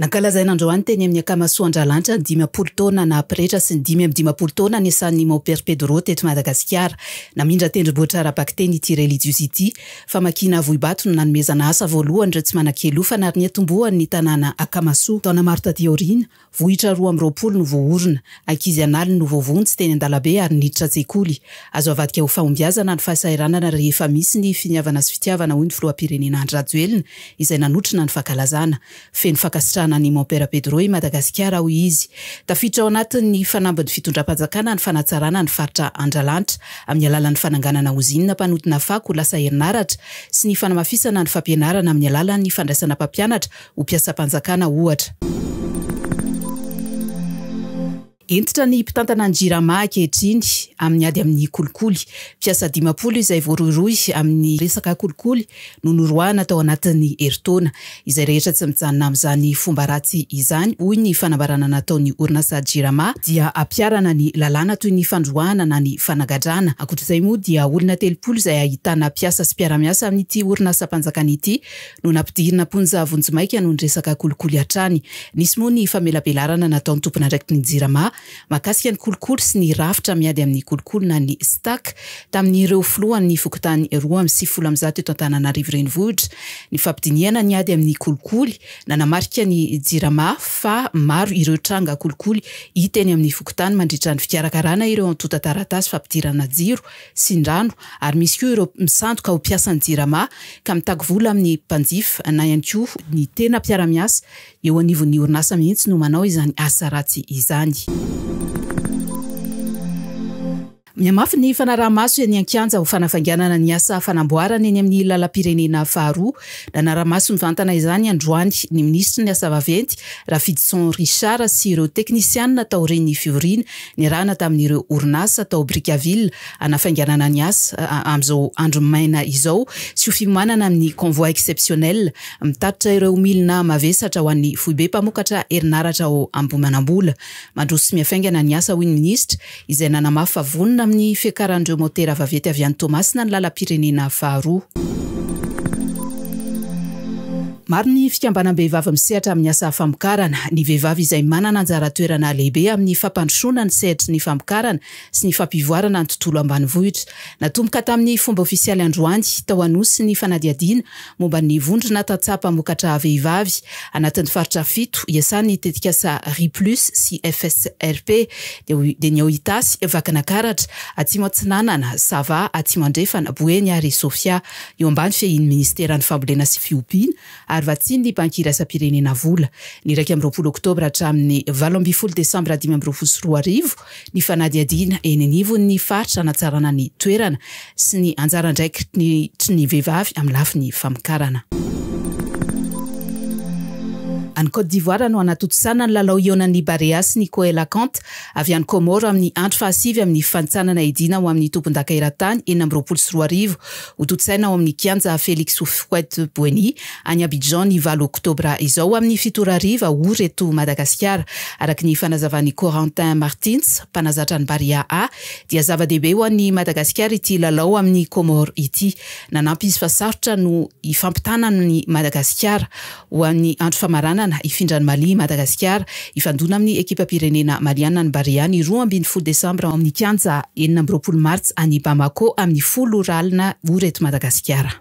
Nankalazain'androany teny amin'ny Akamasoandralanitra ny dimampolo taona naha-pretra sy ny dimy amby dimampolo taona niasan'i Mompera Pedro teto Madagasikara. Namindra tendrombohitra ara-bakiteny ity relijiozy ity. Famakiana vohibato no nanomezana asa voalohany ireo tsy manan-kialofana ary niantombohany ny tanàna Akamasoa. Taona maro taty aoriana, Vohitra roa amby roapolo no voaorina. Ankizy an'aliny no voavonjy teny an-dalabe ary niditra an-tsekoly. Azo avadika ho fahombiazana ny fahasahiranana rehefa misy ny finiavana sy fitiavana hoy ny filoham-pirenena Andry Rajoelina izay nanotrona ny fankalazana. Feno fankasitrahana an'i Mon Père Pedro i Madagasikara hoy izy. Tafiditra ao anatin'ny fanambin'ny fitondram-panjakana ny fanatsarana ny faritra Andralanitra amin'ny alalan'ny fananganana ozinina mpanodina fako ho lasa herinaratra sy ny fanamafisana ny fampianarana amin'ny alalan'ny fandraisana mpampianatra ho mpiasam-panjakana ohatra. Hentitra ny mpitantana ny Jirama ankehitriny amin'ny ady amin'ny kolikoly. Mpiasa dimampolo izay voarohirohy amin'ny resaka kolikoly no noroahana tao anatin'ny herintaona. Izay rehetra tsy mijanona amin'izany fomba ratsy izany, hoy ny fanambarana nataon'ny orinasa Jirama, dia hampiharana ny lalàna toy ny fandroahana na ny fanagadrana. Ankoatr'izay moa dia olona telopolo izay ahitana mpiasa sy mpiara-miasa amin'ity orinasam-panjakana ity no nampidirina am-ponja vonjimaika noho ny resaka kolikoly hatrany. Nisy moa ny famelabelarana nataon'ny tompon'andraikitry ny Jirama mahakasika ny kolikoly sy ny rafitra miady amin'ny kolikoly na ny Stac tamin'ireo filohan'ny fokontany roa amby sivifolo amin'ny zato eto Antananarivo Renivohitra ny fampidinihana ny ady amin'ny kolikoly. Nanamarika ny Jirama fa maro ireo tranga kolikoly hita eny amin'ny fokontany mandritra ny fikarakarana ireo antontan-taratasy fampidirana jiro sy ny rano ary misy koa ireo misandoka ho mpiasan'ny Jirama ka mitaky vola amin'ny mpanjifa na ihany koa ny tena mpiara-miasa eo anivon'ny orinasa mihitsy no manao izany asa ratsy izany. Mihamafy ny fanaraha-maso eny an-kianja ho fanafainganana ny asa fanamboarana eny amin'ny lalam-pirenena faharoa. Nanara-maso mivantana izany androany ny minisitry ny asa vaventy Rafidison Richard sy ireo teknisianina taorian'ny fivoriana Niarahana tamin'ireo orinasa tao Brickaville hanafainganana ny asa amin'izao andro maina izao sy ho fiomanana amin'ny Convoi Exceptionnel mitatitra ireo milina mavesatra ho an'ny Foibe Mpamokatra Herinaratra ao Ambohimanambola. Mandroso sy mihafaingana ny asa, hoy ny Minisitra, izay nanamafy fa vonona amin'ny fiakaran'ireo motera vaventy avy any Toamasina ny lalam-pirenena faharoa. Maro ny fikambanam-behivavy misehatra amin'ny asa famokarana. Ny vehivavy izay manana anjara toerana lehibe amin'ny fampandrosoana ny sehatry ny famokarana sy ny fampivoarana ny tontolo ambanivohitra. Natomboka tamin'ny fomba ofisialy androany, tao Anosy, ny fanadihadiana momba ny vondrona tantsaha mpamokatra vehivavy anatin'ny faritra fito iasan'ny tetikasa Riplus sy FSRP, dia ny ao Itasy, Vakinakaratra, Atsimo Atsinanana, Sava, Atsimo Andrefana, Boeny ary Sofia. eo ambany fehin'ny Ministeran'ny Fambolena sy Fiompiana ary vatsian'ny Banky Iraisam-pirenena vola. Ny iraika amby roapolo Oktobra hatramin'ny valo ambin'ny folo Desambra dimy amby roapolo sy roa arivo ny fanadihadiana eny anivon'ny faritra hanatsarana ny toerana sy ny anjara andraikitry ny vehivavy amin'ny lafiny famokarana. Any Côte d'Ivoire no hanatontosana ny lalao ionan'ny Barea sy ny Coelacant. avy any Kômôro amin'ny andro fahasivy amin'ny fifanintsanana edina ho amin'ny tompondaka eran-tany enina amby roapolo sy roa arivo. Hotontsaina ao amin'ny Kianja Félix Houphouët-Boigny any Abidjan ny valo oktobra izao amin'ny fito ora hariva ory eto Madagasikara. Araka ny fanazavan'i Corentin Martins, mpanazatra ny Barea A, dia zava-dehibe ho an'i Madagasikara ity lalao amin'ny Kômôro ity. Nanampy izy fa sarotra no hifampitana amin'i Madagasikara. Ho an'ny andro famaranana, hifindran'i Mali i Madagasikara. Hifandona amin'ny ekipam-pirenena maliàna ny Barea ny roa ambin'ny folo desambra ao amin'ny kianja enina amby roapolo martsa any Bamako amin'ny folo ora alina ora eto Madagasikara.